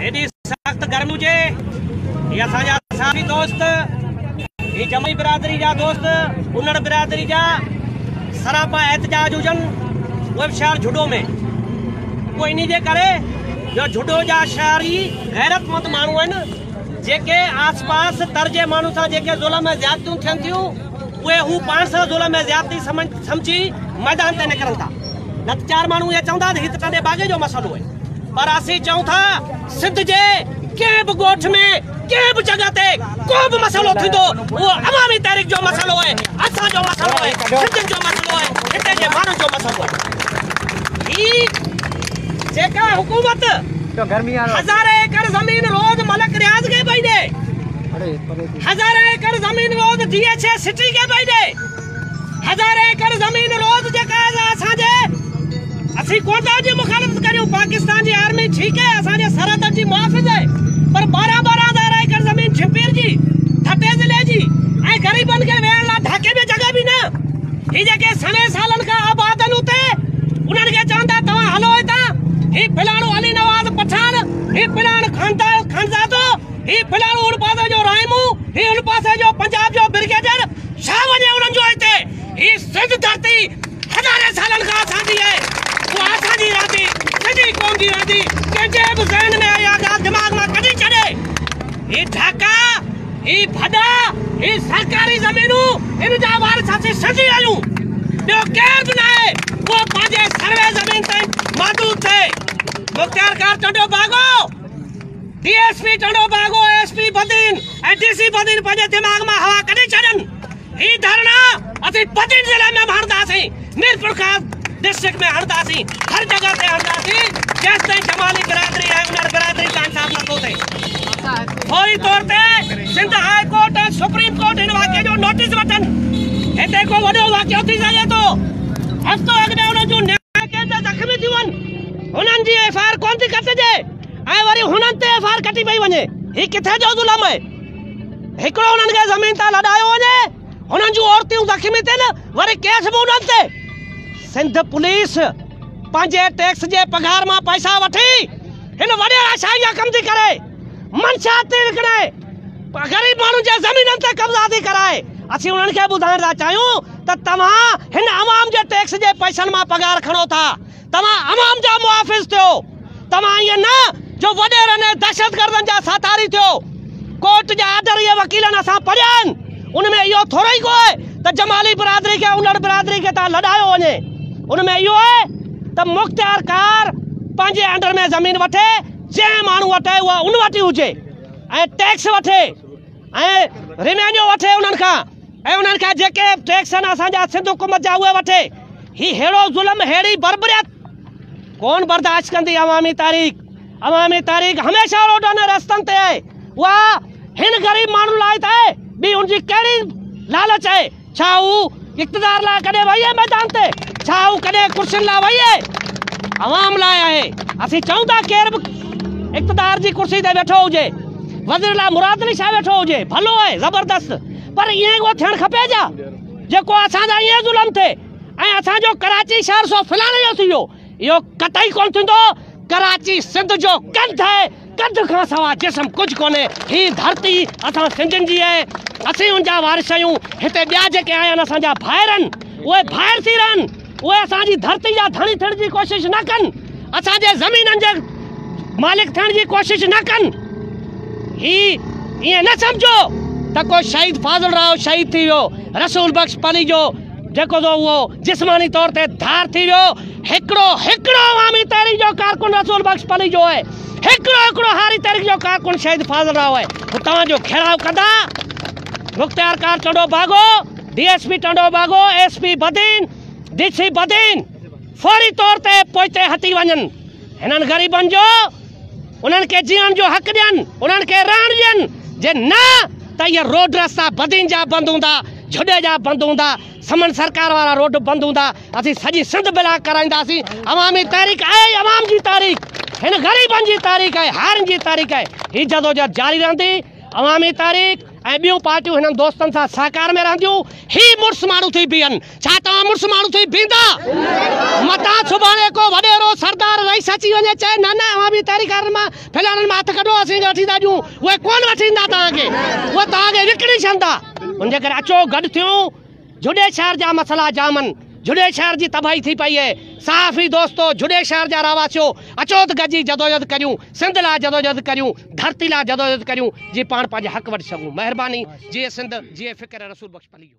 هيڏي سخت گرمي هجي هي اسان جا ساٿي دوست هي جمعي برادري جا دوست انڙ برادري جا سراپا احتجاج هجن اهي به شهر جھڏو ۾ پوء انهي جي ڪري جو جھڏو جا شهري غيرتمند ماڻهو آهن جيڪي آس پاس تر جي ماڻهن سان جيڪي ظلم ۽ زيادتيون ٿين ٿيون اهي هو پاڻ سان ظلم ۽ زيادتي سمجھي ميدان تي نڪرن ٿا نه ته چار ماڻهو اهي چوندا ته هي ته ٽنڊي باگي جو مسئلو آهي پر اسين چئون ٿا سنڌ جي ڪنهن به ڳوٺ ۾ ڪنهن به جڳهه تي ڪو به مسئلو ٿيندو اهو عوامي تحريڪ جو مسئلو آهي اسان جو مسئلو آهي سنڌين جو مسئلو آهي هتي جي ماڻهن جو مسئلو آهي هي جيڪا حڪومت هزارين ايڪڙ زمين روز ملڪ رياض کي پئي ڏي هزارين ايڪڙ زمين روز ڊي ايڇ اي سٽي کي پئي ڏي هزار ايڪڙ زمين روز جي قائد آ اسان جي اسين ڪو ته جي مخالفت ڪريون پاڪستان جي آرمي ٺيڪ هي اسان جي سرحدن جي محافظ هي پر ٻارهن ٻارهن هزار ايڪڙ زمين جهمپير جي ٺٽي ضلعي جي ۽ غريبن کي ويهڻ لا ڍاڪي ۾ جڳهه به نه هي جيڪي سوين سالن کان آباد هن اتي انهن کي چون ٿا توهان هلو هتان هي فلاڻو علي نواز پٺاڻ هي فلاڻ خانزادو هي فلاڻو ان پاسي جو رائمون هي ان پاسي جو پنجاب جو برگيڊر ڇا وڃي انهن جو هتي؟ هي سنڌ ڌرتي هزارين سالن کان اسان جي آهي. اها اسان جي رهندي، سنڌي قوم جي رهندي، ڪنهن جي به ذهن ۾ اها ڳالهه دماغ مان ڪڍي ڇڏي. هي ڍاڪا، هي ڀڏا، هي سرڪاري زمينون، ان جا وارث اسين سنڌي آهيون. ٻيو ڪير به ناهي، اهو پنهنجي سروي زمين تائين محدود ٿئي. Mukhtiar Khan Tando Bago! D S P Tando Bago S P Badin ۽ D C Badin پنهنجي دماغ مان هوا ڪڍي ڇڏن هي ڌرڻا اسين بدين ضلع ۾ هڻنداسين ميرپورخاص ڊسٽرڪٽ ۾ هڻنداسين هر جگہ تي هڻنداسين جيستائين جمالي برادري ۽ انهر برادري جو انصاف نٿو ٿئي فوري طور تي Sindh high court ۽ supreme court هن واقعي جو نوٽيس وٺن هتي ڪو وڏو واقعو ٿي سگهي ٿو هفتو اڳ ۾ انهن جون نياڻيون زخمي ٿيون هنن جي ايف آء آر ڪونه ٿي ڪٽجي ۽ وري هنن تي ايف آء آر ڪٽي پئي وڃي هي ڪٿي جو ظلم آهي هڪڙو هنن کي زمين تان لڏايو وڃي هنن جون عورتيون زخمي ٿين وري ڪيس به هنن تي سنڌ پوليس پنهنجي ٽيڪس جي پگهار مان پئسا وٺي هن وڏي آشائي جا ڪم ٿي ڪري منشات ٿي وڪڻي غريب ماڻهن جي زمينن تي قبضا ٿي ڪرائي اسين هنن کي ٻڌائڻ ٿا چاهيون ته توهان هن عوام جي ٽيڪس جي پئسن مان پگهار کڻو ٿا توهان عوام جا محافظ ٿيو توهان ائين نه جو وڏيرن ۽ دهشتگردن جا ساٿاري ٿيو ڪورٽ جا آرڊر اهي وڪيلن اسان پڙهيا آهن ان ۾ اهو ٿورو ئي ڪو آهي ته جمالي برادري کي اولڙ برادري کي تان لڏايو وڃي ان ۾ اهو آهي ته مختيار ڪار پنهنجي انڊر ۾ زمين وٺي جنهن ماڻهو وٽ آهي اها ان وٽ ئي هجي ۽ ٽيڪس وٺي ۽ ريونيو وٺي انهن کان ۽ انهن کان جيڪي ٽيڪس آهن اسان جا سنڌ حڪومت جا اهي وٺي هي ههڙو ظلم ههڙي بربريت ڪون برداشت ڪندي عوامي تاريخ عوامي تاريخ هميشه روڊن ۽ رستن تي آهي اها هن غريب ماڻهن لاء ته آهي ٻي ان جي ڪهڙي لالچ آهي ڇا هو اقتدار لاء ڪڏهن ويئي ميدان تي؟ ڇا هو ڪڏهن ڪرسين لاء ويئي؟ عوام لاء آهي. اسين چئون ٿا ڪير به اقتدار جي ڪرسي تي ويٺو هجي، وزير لاء مراد علي شاهه ويٺو هجي، ڀلو آهي، زبردست، پر ائين ئي ڪو ٿيڻ کپي ڇا؟ جيڪو اسان سان ائين ظلم ٿئي ۽ اسان جو ڪراچي شهر سو فلاڻي جو ٿي ويو، اهو قطعي ڪونه ٿيندو. ڪراچي سنڌ جو ڪنڌ آهي، ڪنڌ کان سوا جسم ڪجهه ڪونهي. هي ڌرتي اسان سنڌين جي آهي، اسين ان جا وارث آهيون. هتي ٻيا جيڪي آيا آهن اسان جا ڀائر آهن، اهي ڀائر ٿي رهن، اهي اسان جي ڌرتي جا ڌڻي ٿيڻ جي ڪوشش نه ڪن، اسان جي زمينن جي مالڪ ٿيڻ جي ڪوشش نه ڪن. هي ائين نه سمجهو ته ڪو شهيد فاضل راهو شهيد ٿي ويو، رسول بخش پليجو، جيڪو ٿو اهو جسماني طور تي ڌار ٿي ويو هڪڙو هڪڙو عوامي تحريڪ جو ڪارڪن رسول بخش پليجو آهي هڪڙو هڪڙو هاري تحريڪ جو ڪارڪن شهيد فاضل راهو آهي هو توهان جو گهيراء ڪندا مختيار ڪار Tando Bagho D S P Tando Bagho S P Badin D C Badin فوري طور تي پوئتي هٽي وڃن هنن غريبن جو انهن کي جيئڻ جو حق ڏين، انهن کي رهڻ ڏين، جي نه ته اهي روڊ رستا بدين جا بند هوندا، جهڏي جا بند هوندا، سمن سرڪار وارا روڊ بند هوندا، اسين سڄي سنڌ بلاڪ ڪرائينداسين، عوامي تحريڪ آهي ئي عوام جي تحريڪ، هن غريبن جي تحريڪ آهي، هارين جي تحريڪ آهي، هي جدوجهد جاري رهندي، عوامي تحريڪ ۽ ٻيون پارٽيون هنن دوستن سان سهڪار ۾ رهنديون، هي مڙس ماڻهو ٿي بيهن. ڇا توهان مڙس ماڻهو ٿي بيهندا؟ متان سڀاڻي ڪو وڏيرو، سردار، رئيس اچي وڃي چئي، نه نه اوهان به تحريڪ وارن مان ڦلانن مان هٿ ڪڍو، اسين کي وٺي ٿا ڏيون، اهي ڪونه وٺي ڏيندا توهان کي، اهي توهان کي وڪڻي ڇڏندا. ان جي ڪري اچو گڏ ٿيون، جھوڏي شهر جا مسئلا جامن، جھوڏي شهر جي تباهي ٿي پئي اهي، صحافي دوستو، جھوڏي شهر جا رهواسيو، اچو ته گڏجي جدوجھد ڪريون، سنڌ لاء جدوجھد ڪريون، ڌرتي لاء جدوجھد ڪريون، جيئن پاڻ پنهنجا حق وٺي سگھون. مهرباني، جيئي سنڌ، جيئي فڪر رسول بخش پليجو.